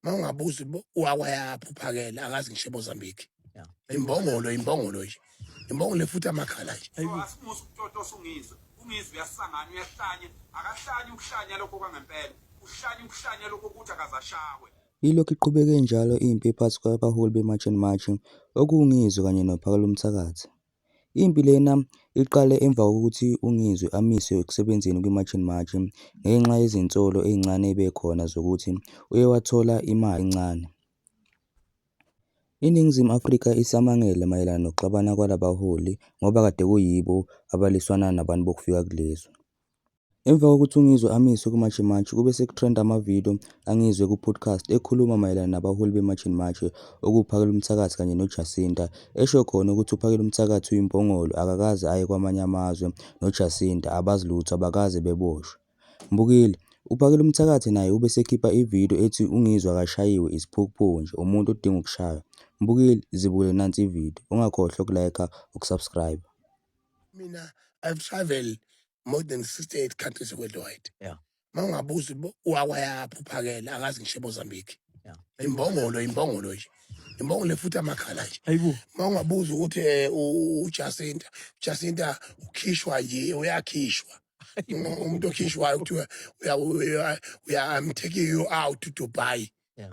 uma ungabuzi wakwayaphi uphakele akazi ngisho emozambique Yeah. imbongolo imbongolo nje imbongolo efuthi amakhala nje asimusa ukutotosa ungizwe ungizwe uyasangana uyahlanya akahlanye ukuhlanya lokho kwangempela uhlanye ukuhlanya lokho ukuthi akazashawe Ilokhu iqhubeke njalo impi phakathi kwabaholi beMarch and March, okuwuNgizwe kanye noPhakela uMthakathi. Impi lena iqale emva kokuthi uNgizwe amiswe ekusebenzeni kwiMarch and March ngenxa yezinsolo ezincane ebekhona zokuthi uye wathola imali encane. INingizimu Afrika isamangele mayelana nokuxabana kwalabaholi ngoba kade kuyibo abaliswana nabantu bokufika kulezwe. Emva kokuthi uNgizwe amiswe kuMarch and March, kube sekutrenda ama-video kaNgizwe ku-podcast ekhuluma mayelana nabaholi be-March and March okuwuPhakela uMthakathi kanye noJacinta, esho khona ukuthi uPhakela uMthakathi uyimbongolo akakaze aye kwamanye amazwe noJacinta abazi lutho abakaze beboshwe. Mbukile, UPhakela uMthakathi naye ube sekhipha i-video ethi uNgizwe akashayiwe isiphukuphuku nje umuntu odinga ukushaywa. Mbukile, zibukele nansi i-video, ungakhohlwa uku-liker, uku-subscriber. Mina I've travelled more than 68 countries worldwide yeah mangabuza wakwayaphi uphakela akazi ngisho Mozambique yeah imbongolo imbongolo nje imbongolo efuthi amakhala nje ayibo mangabuza ukuthi eh, uJacinta Jacinta ukhishwa nje uyakhishwa umuntu okhishwayo kuthiwa uya uya I'm taking you out to Dubai yeah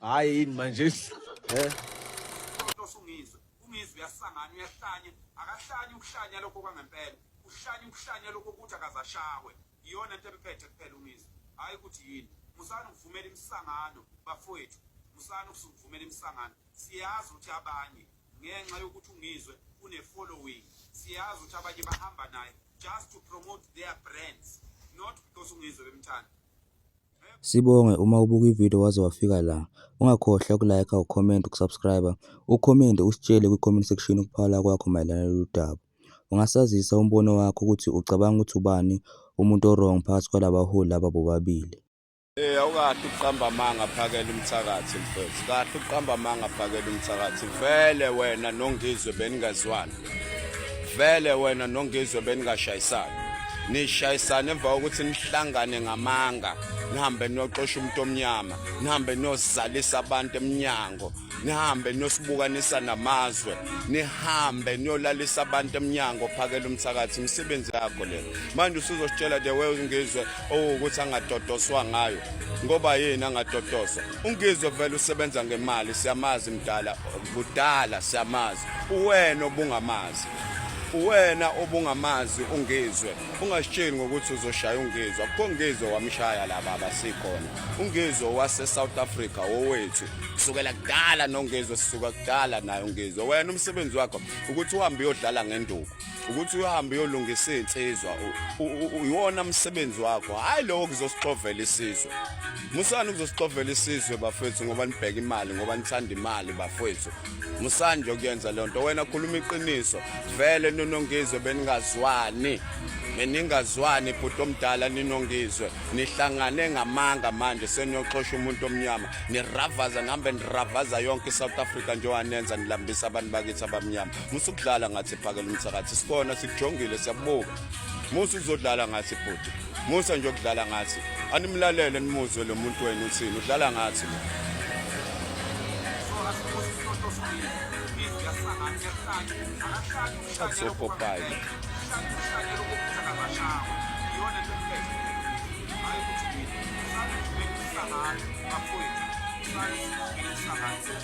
Hayi yini manje. Eh. Usungizwe, ungizwe uyasangana uyahlanya, akahlanya ukuhlanya lokho kwangempela. Uhlanya ukuhlanya lokho ukuthi akazashawe. Iyona into emphethe kuphela ungizwe. Hayi ukuthi yini. Musani ukuvumela imisangano bafowethu. Musani ukuvumela imisangano. Siyazi ukuthi abanye ngenxa yokuthi ungizwe une following. Siyazi ukuthi abanye bahamba naye just to promote their brands not because ungizwe bemthanda. Sibonge uma ubuka ivideo waze wafika la. Ungakhohlwa ukulayikha, ukhomenta, ukusubscriba, ukhomente usitshele kwi-comment section ukuphala kwakho mayelana nalolu daba. Ungasazisa umbono wakho ukuthi ucabanga ukuthi ubani umuntu o-wrong phakathi kwalaba baholi laba bobabili. Eh awukahle ukuqamba amanga phakela umthakathi mfethu. Kahle ukuqamba amanga phakela umthakathi. Vele wena nongizwe beningazwani. vele wena nongizwe beningashayisani nishayisane emva kokuthi nihlangane ngamanga nihambe niyoxosha umuntu omnyama nihambe niyozalisa abantu emnyango nihambe niyosibukanisa namazwe nihambe niyolalisa abantu emnyango phakela umthakathi imisebenzi yakho le manje usuzositshela the way ungizwe owukuthi angadodoswa ngayo ngoba yini angadodoswa ungizwe vele usebenza ngemali siyamazi mdala kudala siyamazi uwena obungamazi uwena obungamazi ungizwe ungasitsheli ngokuthi uzoshaya ungizwe akukho ngizwe wamshaya laba abasikhona ungizwe wase-south africa wowethu kusukela kudala nongizwe sisuka kudala naye ungizwe wena umsebenzi wakho ukuthi uhambe uyodlala ngenduku ukuthi uyohamba uyolungisa izinsizwa uyiwona umsebenzi wakho hayi lowo kuzosixovela isizwe musani kuzosixovela isizwe bafethu ngoba nibheka imali ngoba nithanda imali bafethu musani nje kuyenza le nto wena khuluma iqiniso vele nonongizwe beningazwani beningazwani bhuti omdala ninongizwe nihlangane ngamanga manje seniyoxosha umuntu omnyama niravaza nihambe niravaza yonke i-south africa njengoba nenza nilambisa abantu bakithi abamnyama musa ukudlala ngathi phakela umthakathi sibona sikujongile siyakubuka musa uzodlala ngathi bhuti musa nje ukudlala ngathi animlalele nimuzwe lo muntu wenu uthini udlala ngathi lo akusopopayi Thank you.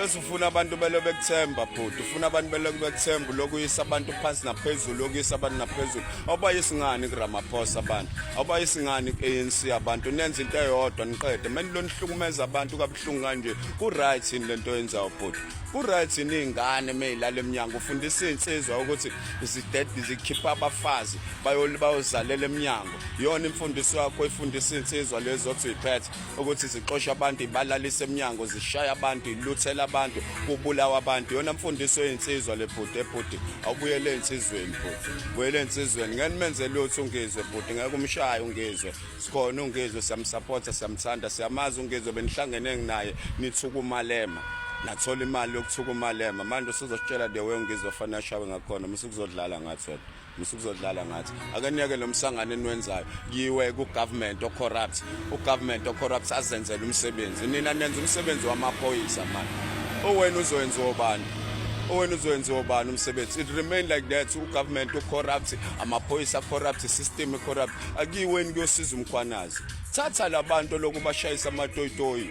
bese ufuna abantu belo bekuthemba bhuti ufuna abantu belo bekuthemba lokhu uyisa abantu phansi naphezulu lokhu uyisa abantu naphezulu awubayisi ngani kuramaphosa abantu awubayisi ngani ku-anc abantu nenza into eyodwa niqede meni lo nihlukumeza abantu kabuhlungu kanje ku-right yini le nto yenzayo bhuti ku-right yini iy'ngane meyilala emnyango ufundisa iy'nsizwa ukuthi zikhipha abafazi bayozalela emnyango yona imfundiso yakho ifundisa insizwa lezo othi uyiphethe ukuthi zixosha abantu ibalalise emnyango zishaya abantu iluthela abantu kubulawa abantu yona mfundiso yeyinsizwa le bhuti ebhuti awubuyele ey'nsizweni bhuti buyele ey'nsizweni ngeke nimenze lutho ungizwe bhuti ngeke umshaye ungizwe sikhona ungizwe siyamsapotha siyamthanda siyamazi ungizwe benihlangene nginaye nithuka umalema nathola imali yokuthuka umalema manje usuzositshela the way ungizwe fanele ashawe ngakhona mase kuzodlala ngathi wena Musukuzodlala ngathi akaniyeke lo msangano eniwenzayo yiwe ku government o corrupt u government o corrupt azenzele umsebenzi nina nenza umsebenzi wamaphoyisa manje owena uzowenziwa ubani owena uzowenziwa ubani umsebenzi it remain like that u government o corrupt amaphoyisa corrupt system e corrupt akiweni kuyosiza umkhwanazi thatha labantu lokubashayisa amatoyitoyi